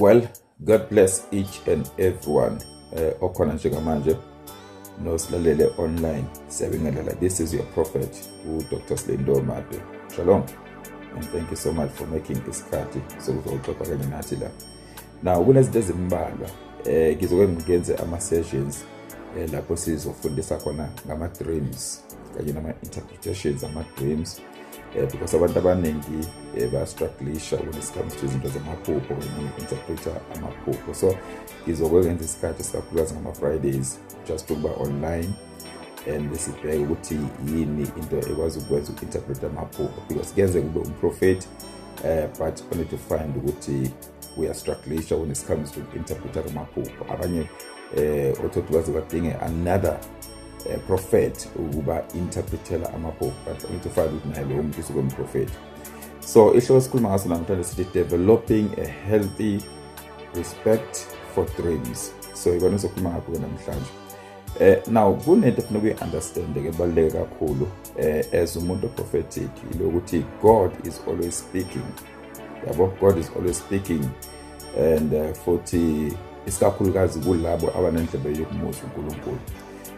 well god bless each and everyone eh, okhona njengamanje nosilalele online siyabingelela this is your prophet udr slendo made shalom and thank you so much for making isikhathi sokuzoxoxa kanye nathi la now kunezinto ezimbalwa eh ngizoke ngikenze ama sessions eh, lapho sizofundisa khona ngama dreams kanye nama interpretations ama dreams um because abantu abaningi um bayastrugglisha when it comes to izinto zamaphupho interpreta amaphupho so ngizokwe ngenza isikhathi sikakhulukazi ngama-fridays just ukuba online and sibheke ukuthi yini into ekwazi ukwenza uku-interpreta amaphupho because kuyenzeka ube umprofethi um but only to find ukuthi uyastrugglisha when it comes to interpreter amaphupho abanye um eh, othothi baze badinge another uh, prophet ukuba interpretela amaphupho but angithi ufake ukuthi naye lowo muntu usuke umprofethi so ihloko esikhuluma ngaso namhlanje sithi developing a healthy respect for dreams so ikona sokhuluma ngakho-ke namhlanje eh now kunento efuna ukuyi-understand-ke ebaluleke kakhulu eh as umuntu oprophetic yilokuthi god is always speaking yabo god is always speaking and uh, futhi isikakhulukazi kulabo abanendlebe yokumuzwa unkulunkulu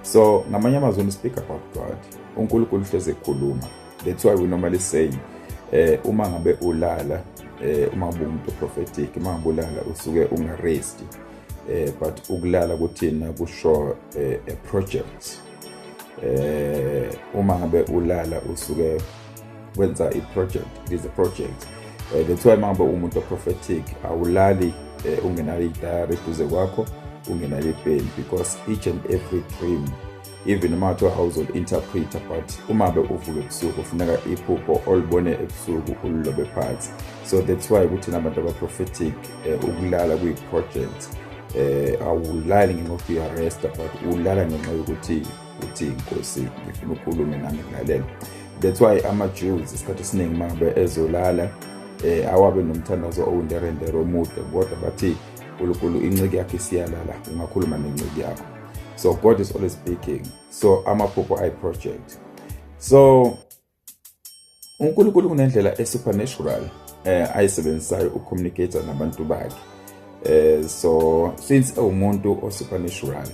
so ngamanye amazwi speak about god unkulunkulu uhlezi ekhuluma that's why we normally say eh uma ngabe ulala eh uma ngabe umuntu prophetic uma ngabe ulala usuke ungarest eh but ukulala kuthina kusho eh, a project eh uma ngabe ulala usuke wenza i-project it is a project eh, that's why mangabe umuntu oprophetic awulali eh, ungenalo idayari eduze kwakho ungenalo ipeni because each and every dream even noma kuthiwa awuzoli-interpreta but uma be uvuke ebusuku kufuneka iphupho olibone ebusuku ulilobe phansi so that's why ukuthi nabantu abaprophetic eh, ukulala kuyi-project eh awulali ngenxa yokuthi uyarestor but ulala ngenxa yokuthi uthi inkosi ngifuna ukhulume nami ngilalele that's why ama-jews isikhathi esiningi uma ngabe ezolala eh awabe nomthandazo owunderendere omude kodwa bathi unkulunkulu inciki yakho isiyalala ungakhuluma nenciki yakho so god is always speaking so amaphupho ayi-project so uNkulunkulu kunendlela esupernatural eh ayisebenzisayo ucommunicate nabantu bakhe eh so since ewumuntu osupernatural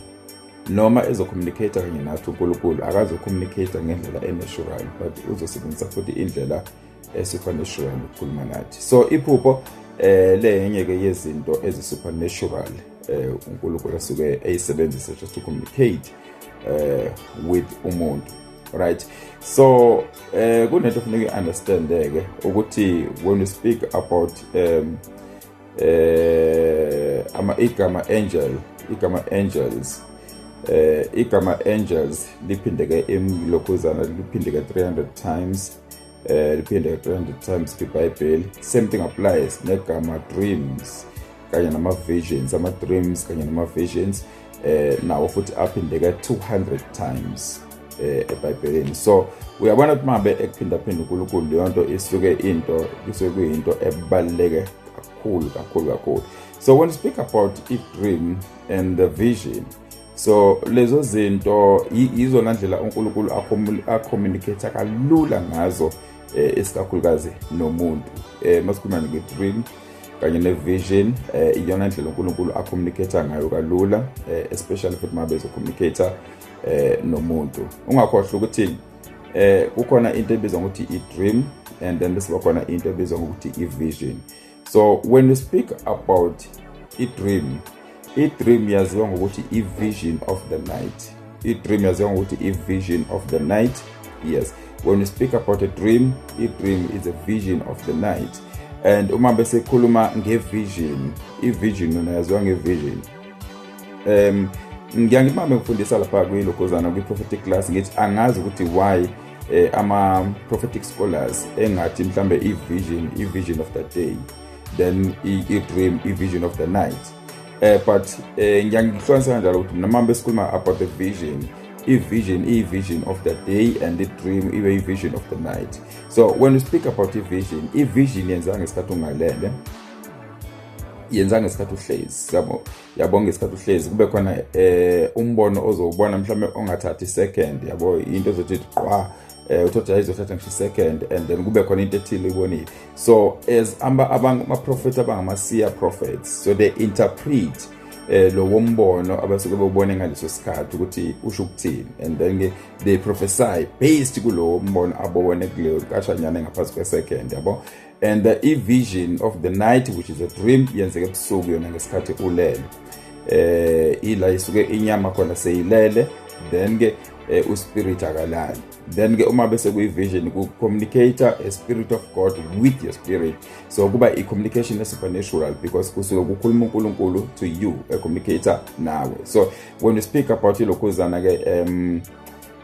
noma ezocommunicate kanye nathi uNkulunkulu akazocommunicate ngendlela enatural but uzosebenzisa futhi indlela esupernatural ukukhuluma nathi so iphupho eh lenye ke yezinto ezisupernatural eh uNkulunkulu asuke eyisebenzisa just to communicate eh with umuntu right so um eh, kunento funeka i-understande-ke ukuthi when you speak about um eh ama igama angel igama angels eh igama angels liphindeke emlokhuzana liphindeke 300 times eh liphinde 300 times ibhayibheli same thing applies negama dreams kanye nama visions ama dreams kanye nama visions eh nawo futhi aphindeka 200 times eh ebhayibhelini so uyabona ukuthi mabe ekuphinda phinda uNkulunkulu leyo nto isuke into kusuke kuyinto ebaleke kakhulu kakhulu kakhulu so when you speak about i dream and the vision so lezo zinto yizona ndlela uNkulunkulu acommunicate kalula ngazo eh, esikakhulukazi nomuntu eh, masikhuluma nge-dream kanye ne-vision eh, iyona ndlela uNkulunkulu acommunicate ngayo kalula eh, especially futhi uma bezocommunicate eh, nomuntu ungakhohlwa ukuthi eh kukhona into ebizwa ngokuthi i-dream and then bese bakhona into ebizwa ngokuthi i-vision so when you speak about i-dream i-dream yaziwa ngokuthi i-vision of the night i-dream yaziwa ngokuthi i-vision of the night yes when you speak about a dream i-dream is a vision of the night and uma besekhuluma ngevision ivision yona yaziwa ngevision um ngiyangimame ngifundisa lapha kwilokhozana kwi-prophetic class ngithi angazi ukuthi why eh, ama prophetic scholars engathi mhlambe i vision i vision of the day then i dream i vision of the night eh but eh, ngiyangihlonisa kanjalo ukuthi mina mama besikhuluma about the vision i vision i vision of the day and the dream ibe i vision of the night so when you speak about i vision i vision yenza ngesikhathi ungalele yenza ngesikhathi uhlezi yabo yabo ngesikhathi uhlezi kube khona eh umbono ozowubona mhlawumbe ongathathi second yabo into ezothi qwa eh uthothi ayizothatha ngisho second and then kube khona into ethile uyibonile so as amba abangama prophet abangama seer prophets so they interpret eh lo wombono abasuke bobone ngaleso sikhathi ukuthi usho ukuthini and then ke they prophesy based kulowo mbono abobone kuleyo kashanyana ngaphansi kwe second yabo and the e-vision of the night which is a dream yenzeka ebusuku yona ngesikhathi ulele eh ila isuke inyama khona seyilele then ke eh, uspirit akalali then ke uma bese kuyi-vision ku-communicator a spirit of god with your spirit so kuba i-communication e-supernatural because kusuke kukhuluma unkulunkulu to you a communicator nawe so when you speak about ilokhuzana-ke um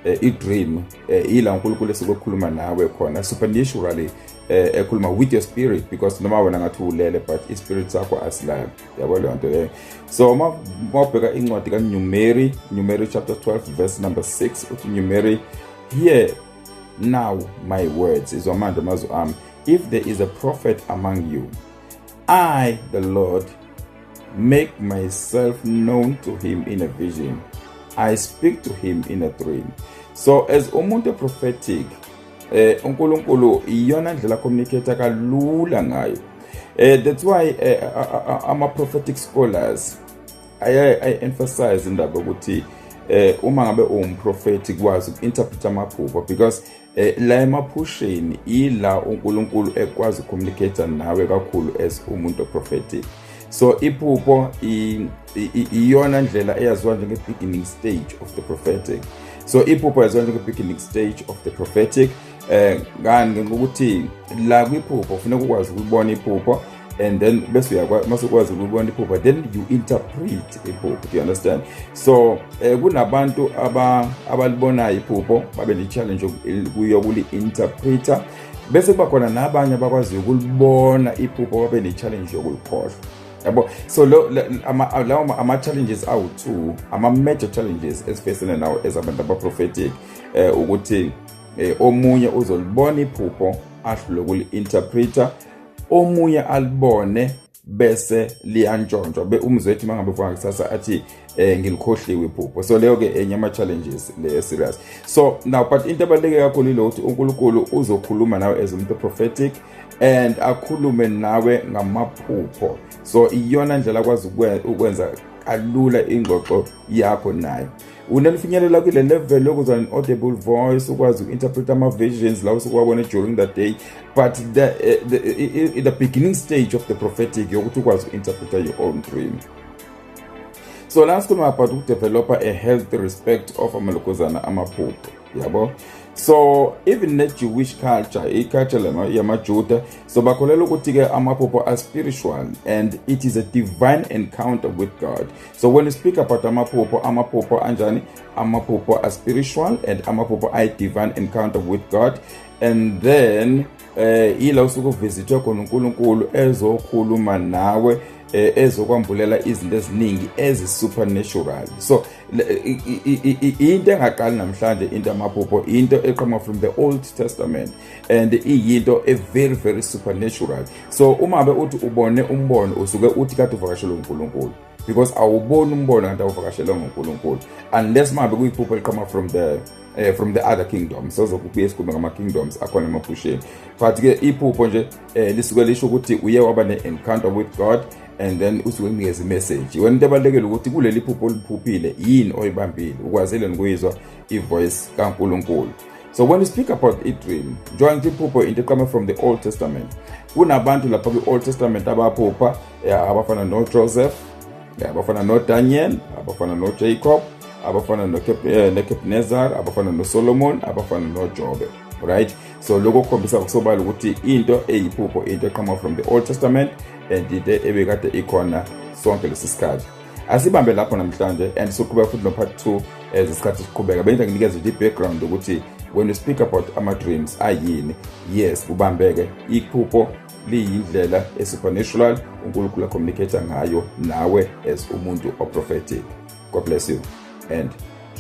eh, i-dream eh, yila unkulunkulu esikokhuluma nawe khona supernaturally eh, ekhuluma with your spirit because noma wena ngathi ulele but i-spirit sakho asilali yabo leyo nto leyo so uma ubheka incwadi kanumeri numeri chapter 12 verse number 6 uthi numeri hear now my words izwa manje amazwi ami if there is a prophet among you I, the Lord, make myself known to him in a vision. I speak to him in a dream. So as umuntu prophetic, eh uNkulunkulu iyona ndlela communicate kalula ngayo. Eh that's why eh, ama prophetic scholars I, I emphasize indaba ukuthi eh uma ngabe uwumprofeti kwazi uku-interpret amaphupho because Eh, la emaphusheni ila uNkulunkulu ekwazi communicate nawe kakhulu as umuntu prophetic so iphupho iyona ndlela eyaziwa njenge beginning stage of the prophetic so iphupho yaziwa njenge beginning stage of the prophetic eh ngani ngokuthi la kwiphupho kufuneka ukwazi ukubona iphupho and then bese uyakwazi mase ukwazi ukubona iphupho then you interpret iphupho do you understand so eh, kunabantu aba abalibonayo iphupho babe ne challenge yokuli interpreter bese kuba khona nabanye abakwaziyo ukulibona iphupho babe ne challenge yokulikhohlwa yabo so lawo ama-challenges awu-two ama-major challenges esifesene nawo ezabantu abaprophetic eh, um ukuthi eh, omunye uzolibona iphupho ahlule kuli-interpreter omunye alibone bese liyantshontshwa be umzwethi mangabe ufaka kusasa athi eh ngilikhohliwe iphupho so leyo ke enye ama challenges le serious so now but into abaleke kakhulu ile ukuthi uNkulunkulu uzokhuluma nawe as umuntu prophetic and akhulume nawe ngamaphupho so iyona ndlela kwazi ukwenza kalula ingxoxo yakho nayo unelifinyelela kule level yokuza ne-audible voice ukwazi uku-interpreta ama-visions lawo sukuwabona during the day but the, eh, the, eh, eh, the beginning stage of the prophetic yokuthi ukwazi uku-interpreta your own dream so la sikhuluma about ukudevelopha a healthy respect of amalokozana amaphupho yabo so even ne-jewish culture i-culture yamajuda so bakholelwa ukuthi-ke amaphupho are spiritual and it is a divine encounter with god So when you speak about amaphupho, amaphupho anjani? Amaphupho are spiritual and amaphupho are divine encounter with God. And then eh ila usuku visitwe khona uNkulunkulu ezokhuluma nawe eh, ezokwambulela izinto eziningi ezi supernatural so into engaqali namhlanje into amaphupho into eqhamuka from the old testament and iyinto a very very supernatural so uma be uthi ubone umbono usuke uthi kade uvakashelwe uNkulunkulu because awuboni umbono kanti awuvakashelwe nguNkulunkulu unless mabe kuyiphupho eliqhama from the eh, from the other kingdom sozokubuya esikhumbe ngama kingdoms akhona emaphusheni but ke iphupho nje eh, lisuke lisho ukuthi uye waba ne encounter with God and then usuke kunikeza imessage wena into ebalekile ukuthi kuleli phupho oliphuphile yini oyibambile ukwazile nokuyizwa ivoice kaNkuluNkulu So when you speak about a dream, njengoba ngithi iphupho into eqama from the Old Testament. Kunabantu lapha kwi-Old Testament abaphupha eh, abafana noJoseph, eh, abafana noDaniel, abafana noJacob, abafana eh, noKebnezar, abafana noSolomon, abafana noJobe. Right? So lokho kukhombisa kusobala ukuthi into eyiphupho into eqama from the Old Testament and into ebekade ikhona sonke lesi sikhathi. asibambe lapho namhlanje and soqhubeka futhi no-part two as isikhathi siqhubeka bengithi nginikeze nje i-background ukuthi when you speak about ama-dreams ayini yes kubambeke iphupho liyindlela e-supernatural unkulunkulu acommunicate ngayo nawe as umuntu oprophetic god bless you and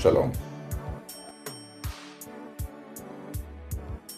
shalom